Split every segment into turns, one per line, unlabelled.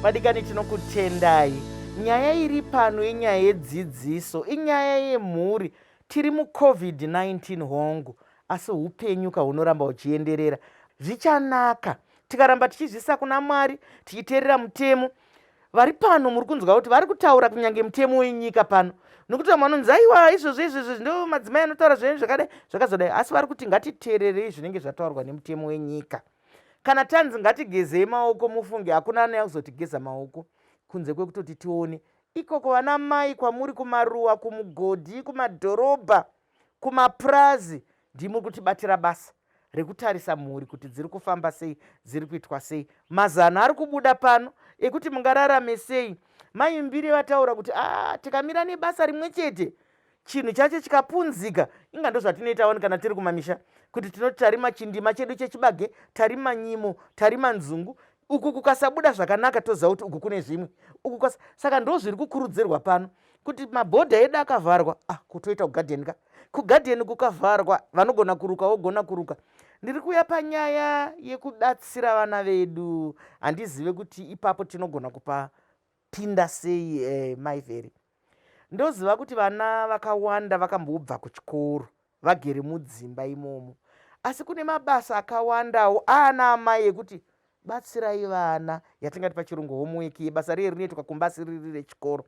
vadikani tinokutendai nyaya iri pano inyaya yedzidziso inyaya yemhuri tiri mucovid-19 hongu asi upenyu ka hunoramba huchienderera zvichanaka tikaramba tichizvisa kuna mwari tichiteerera mutemo vari pano muri kunzwa kuti vari kutaura kunyange mutemo wenyika pano nokuti vamwe vanonzi aiwa izvozvo izvozvo ndo madzimai anotaura zvinenge zvakadai zvakazodai asi vari kuti ngatiteererei zvinenge zvataurwa nemutemo wenyika kana tanzi ngatigezei maoko mufunge hakuna anaya kuzotigeza maoko kunze kwekutoti tione ikoko vana mai kwamuri kumaruwa kumugodhi kumadhorobha Kumapurazi ndimuri kutibatira basa rekutarisa mhuri kuti dziri kufamba sei, dziri kuitwa sei. Mazano ari kubuda pano ekuti mungararame sei. Mai Mbiri vataura kuti ah, tikamira nebasa rimwe chete chinhu chacho chikapunzika inga ndozvatinoita wani kana tiri kumamisha kuti tinoti tarima chindima chedu chechibage tarima nyimo tarima nzungu uku kukasabuda zvakanaka toziva kuti uku kune zvimwe uku kas saka ndo zviri kukurudzirwa pano kuti mabhodha edu akavharwa ah kutoita kugadheni ka kugadheni kukavharwa vanogona kuruka wogona kuruka ndiri kuuya panyaya yekubatsira vana vedu handizive kuti ipapo tinogona kupapinda sei eh, maivheri Ndoziva kuti vana vakawanda vakambobva kuchikoro vagere mudzimba imomo, asi kune mabasa akawandawo aana amai ekuti batsirai vana, yatingati pachirungu homework yebasa riye rinoitwa kumba asi riri rechikoro.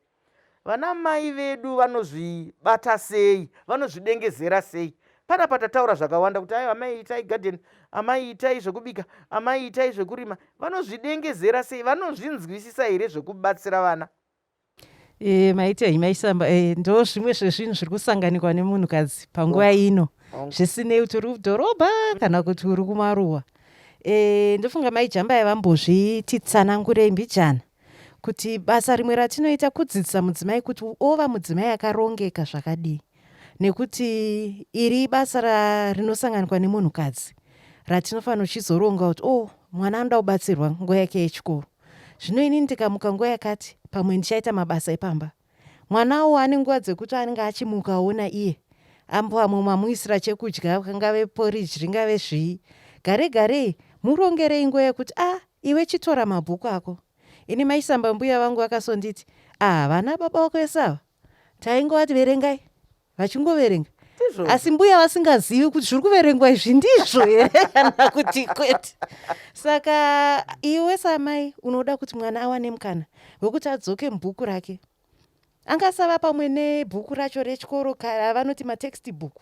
Vana mai vedu vanozvibata sei, vanozvidengezera sei? Pana patataura zvakawanda kuti ayo amai itai garden, amai itai zvekubika, amai itai zvekurima, vanozvidengezera sei, vanozvinzwisisa here zvekubatsira vana? Eh,
maitei maisamba eh, ndo zvimwe zvezvinhu zviri kusanganikwa nemunhukadzi panguva oh. ino oh. zvisinei kuti uri kudhorobha kana kuti uri kumaruwa eh, ndofunga mai jamba yavambozvititsanangurei mbijana kuti basa rimwe ratinoita kudzidzisa mudzimai kuti ova mudzimai akarongeka zvakadii nekuti iri basa rinosanganikwa nemunhukadzi ratinofanira uchizoronga kuti o oh, mwana anoda kubatsirwa nguva yake yechikoro Zvino ini ndikamuka nguva yakati, pamwe ndichaita mabasa epamba. Mwanawo ane nguva dzekuti anenge achimuka aona iye. Ambo amwe mamuisira chekudya, kangave poriji, ringave zvii. Gare garei, murongerei nguva yekuti, ah, iwe chitora mabhuku ako. Ini maisamba mbuya vangu vakasonditi, ah, vana baba wako vese ava? Taingovati verengai. vachingoverenga asi mbuya vasingazivi kuti zviri kuverengwa izvi ndizvo here kana kuti kwete saka iwe samai unoda kuti mwana awane mukana wekuti adzoke mubhuku rake angasava pamwe nebhuku racho rechikoro kara vanoti matext book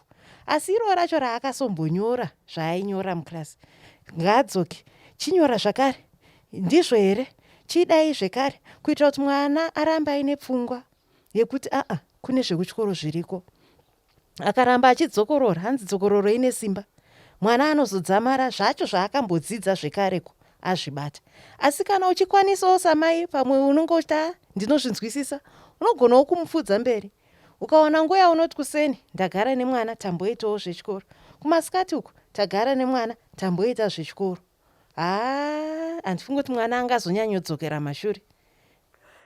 asi iroo racho raakasombonyora zvaainyora muclass ngaadzoke chinyora zvakare ndizvo here chidai zvekare kuitira kuti mwana arambe aine pfungwa yekuti aa kune zvekutyoro zviriko akaramba achidzokorora hanzi dzokororo ine simba mwana anozodzamara zvacho zvaakambodzidza zvekareko azvibata asi kana uchikwanisawo samai pamwe unonge uchita ah, ndinozvinzwisisa unogonawo kumupfudza mberi ukawana nguva yaunoti kuseni ndagara nemwana tamboitawo zvechikoro kumasikati uku tagara nemwana tamboita zvechikoro haa handifungi kuti mwana anga azonyanyodzokera mashure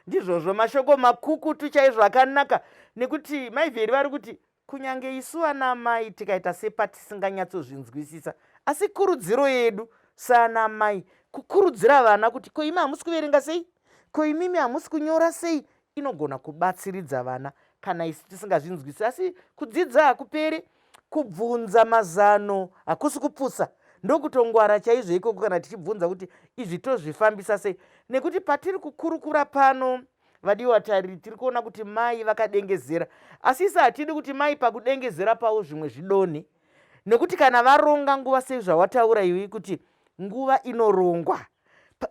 ndizvozvo mashoko makukutu chaizvo akanaka nekuti maivheri vari kuti kunyange isu ana amai tikaita sepatisinganyatsozvinzwisisa asi kurudziro yedu saana amai kukurudzira vana kuti ko imi hamusi kuverenga sei ko imimi hamusi kunyora sei inogona kubatsiridza vana kana isu tisingazvinzwisisi asi kudzidza hakuperi Kubvunza mazano hakusi kupusa, ndokutongwara chaizvo ikoko kana tichibvunza kuti izvi tozvifambisa sei, nekuti patiri kukurukura pano vadiwa vatariri tiri kuona kuti mai vakadengezera asi isi hatidi kuti mai pakudengezera pavo zvimwe zvidonhe nekuti kana varonga nguva sei zvawataura iwi kuti nguva inorongwa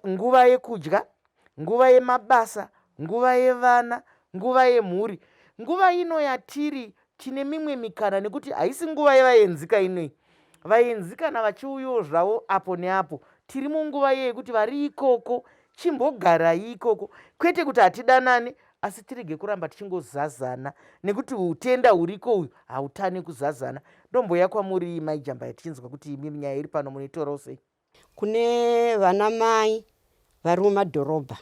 nguva yekudya nguva yemabasa, nguva yevana, nguva yemhuri. Nguva ino yatiri tine mimwe mikana nekuti haisi nguva yevaenzika inoi. Vaenzi kana vachiuyawo zvavo apo neapo, tiri munguva iye yekuti vari ikoko chimbogarai ikoko, kwete kuti hatidanane asi tirege kuramba tichingozazana nekuti utenda huriko uyu hautane kuzazana. Ndomboya kwamuri mai Jambaya tichinzwa kuti imi nyaya iri pano munoitorawo sei. Kune
vana mai vari mumadhorobha,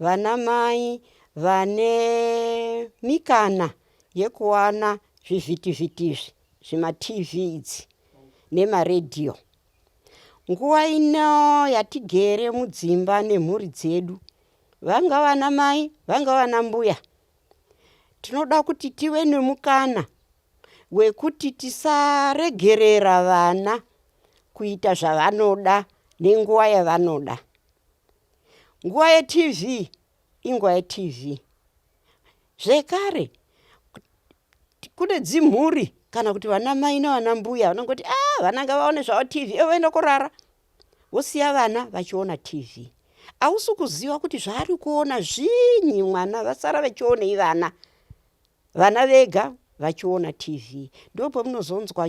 vana mai vane mikana yekuwana zvivhitivhiti izvi, zvimatv idzi nemaredhiyo. Nguva ino yatigere mudzimba nemhuri dzedu, vanga vana mai, vanga vana mbuya, tinoda kuti tive nemukana wekuti tisaregerera vana kuita zvavanoda nenguva yavanoda. Nguva yeTV inguva yeTV. Zvekare kune dzimhuri kana kuti vana mai navana mbuya vanongoti ah vana ngavaone zvavo TV ivo voenda kurara wosiya vana vachiona tv ausi kuziva kuti zvaari kuona zvinyi mwana vasara vachionei vana vana vega vachiona tv ndopamunozonzwa